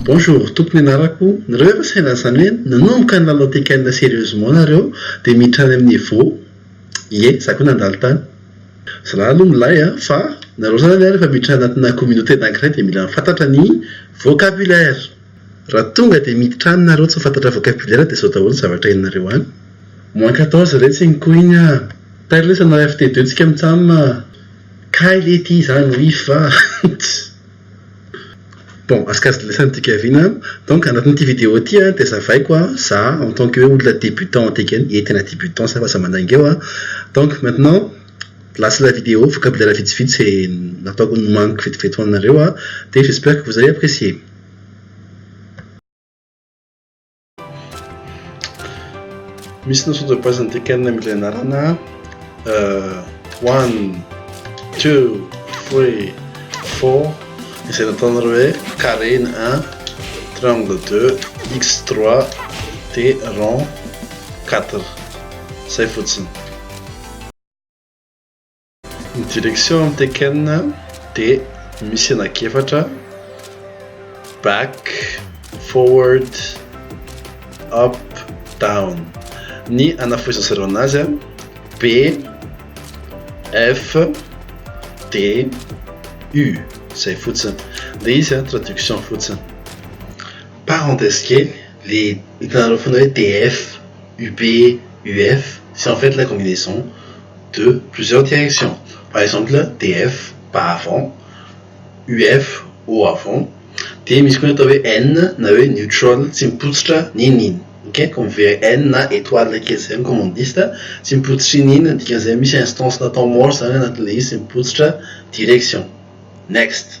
Bonjour, tompony anarako, nareo efa saina zany hoe nanomboka ny lalao Tekken serieusement nareo dia miditra any amin'ny Evo, ie za koa nandalo tany, zalahy aloha milay a, fa nareo zany rehefa miditra anatina communauté anankiray dia mila fantatra ny vocabulaire. Raha tonga dia miditra any nareo tsy ho fantatra vocabulaire dia zao daholo ny zavatra henonareo any. Moins quatorze re tsy iny koa iny ah! Tairo lesy hanao FT deux tsika mitsam ah! Kay le ty izany ho if va? Bon, asikazy lesy an'ity Kevin an! Donc anatin'ity vidéo ity an dia azavaiko an, za en tant que hoe olona débutant anty Keny, ie tena débutant za fa aza mandainga eo an! Donc maintenant, là c'est la vidéo, vocabulaire vitsivitsy izay nataoko nomaniko vetivety ho anareo an! Dia j'espère que vous avez apprécié. Misy notion de base an'ity canne amin'ilay anarana one, two, three, four izay nataonareo hoe carré ny un, triangle deux, x trois dia rond quatre. Izay fotsiny. Ny direction amin'ny Tekken dia misy anak'efatra, back, forward, up, down. Ny anafohezan'ny zareo anazy, B, F, D, U, izay fotsiny. Dia izy traduction fotsiny. Parenthèse kely. Le hitanareo foana hoe DF, UB, UF, c'est en fait la combinaison de plusieurs directions. Par exemple, DF, bas avant, UF, haut avant, dia misy koa ny atao hoe N na hoe neutral, tsy mipotsitra n'inon'inona. Ok, comme vers N na étoile kely izay amin'ny commandiste, tsy mipotsitra inon'inona, ny dikan'izay misy instance na temps mort izany anatin'ilay izy, tsy mipotsitra direction. Next.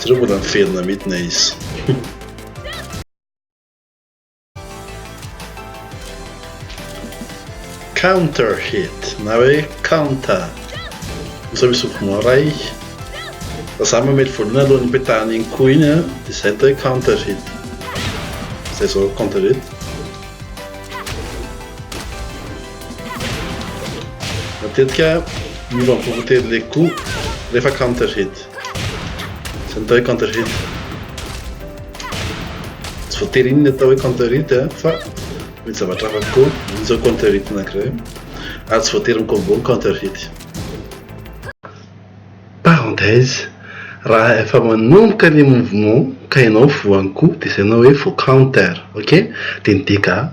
Jereo mbola miverina midina izy. counter hit na hoe counter osa misy mouvement ray fa za mamely voalohany aloha ny petahana iny koa iny a dia izay atao hoe counter hit izay zao counter hit Matetika miova am poko telo le ko refa counter hit. Zay no atao hoe counter hit. Tsy voatery iny ny atao hoe counter hit eh, fa mety zavatra hafa koa iny zao counter hit anankiray. Ary tsy voatery mi-combo ny counter hit. Parenthèse, raha efa manomboka le mouvement ka ianao voan'ny ko de zay no hoe vo counter, ok? De ny dégâts.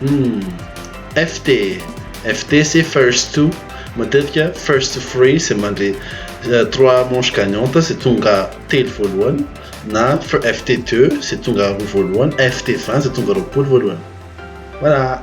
Hmm, FT. FT c'est first to. Matetika first to three c'est mandre euh, trois manches gagnantes c'est tonga telo voalohany na FT 2 c'est tonga roa voalohany, FT 20 c'est tonga roapolo voalohany. Voilà.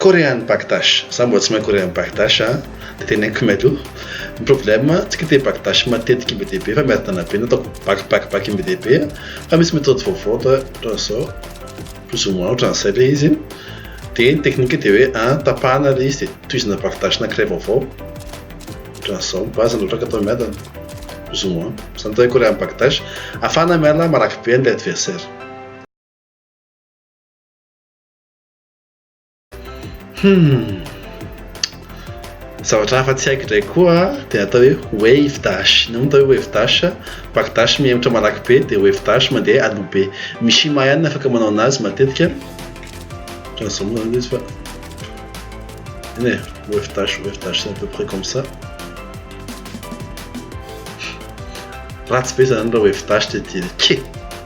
Korean Bagdash, za mbola tsy mahay Korean Bagdash a, de teny any Khmer io, ny problème tsy kite Bagdash matetiky be dia be fa miadana be, nataoko bac bac bac be dia be, fa misy méthode vaovao atao ohatran'izao, plus ou moins ohatran'izay le izy, de ny technique de hoe a tapahana le izy de tohizana Bagdash anankiray vaovao, ohatran'izao, ny base loatra atao miadana, plus ou moins, zany atao hoe Korean Bagdash, afahana miala marakibe an'ilay adversaire. Hmm. Zavatra hafa tsy haiko indray koa dia atao hoe wave dash. Ny atao hoe wave dash, back dash mihemotra malaky be dia wave dash mandeha aloha be. Mishima ihany afaka manao anazy matetika. Ohatran'izao moa zany izy fa eny e, wave dash, wave dash c'est à peu près comme ça. Ratsy be zany raha wave dash dia dia ke.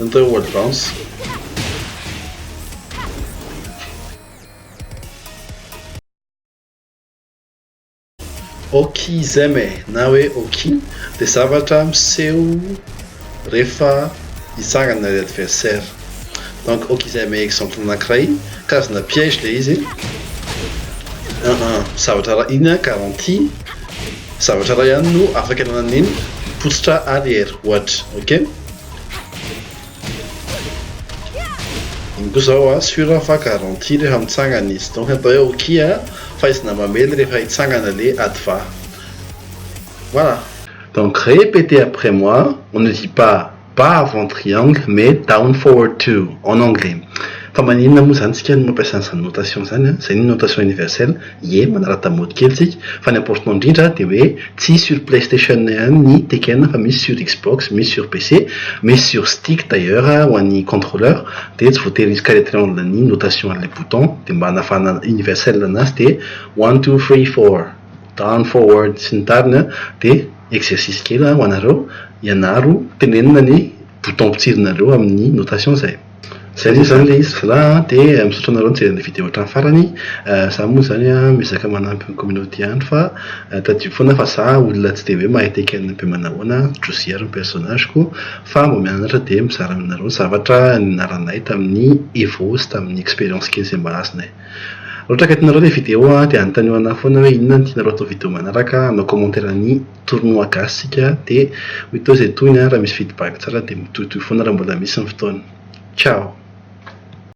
Entin oa danse. Auxism e na hoe auxi dia zavatra miseho rehefa hitsangana ilay adversaire. Donc auxism exemple anankiray karazana piège ilay izy. Zavatra inona garantie. Zavatra iray ihany no afaka ananan'iny potsitra arrière ohatra ok. Iny koa zao a sur fa garantie rehefa mitsangana izy donc atao hoe ok a fahaizana mamely rehefa hitsangana le adva voilà. Donc répétez après moi on ne dit pas. Bas avant triangle mais down forward to en anglais. Fa maninona moa izany tsika no mampiasa an'izany notation izany a? Izay ny notation universelle, ie, manarata mody kely tsika, fa ny important indrindra dia hoe tsy sur playstation ihany ny Tekken fa misy sur Xbox, misy sur PC, misy sur stick d'ailleurs ho an'ny contrôleur dia tsy voatery hisy carré triangle ny notation an'ilay bouton dia mba hanafahana universelle anazy dia one two three four down forward sy ny tariny a dia exercice kely ho anareo, ianaro tenenina ny bouton mpitsirinareo amin'ny notation zay. Zay anie zany le izy za de misaotra anareo nijery an'le vidéo hatramin'ny farany, za moa zany miezaka manampy ny communauté ihany fa tadidio foana fa za olona tsy de hoe mahay tekenina be manahoana, Josie ary ny personnage ko fa mba mianatra de mizara aminareo ny zavatra nianaranay tamin'ny Evo sy tamin'ny expérience kely zay mba azonay. Raha ohatra ka tianareo ilay vidéo dia anontanio anah foana hoe inona no tianareo atao vidéo manaraka, hanao commentaire ny tournoi gasy isika dia hoy teo izay tohiny an, raha misy feedback tsara dia mitohitohy foana raha mbola misy ny fotoana. Ciao!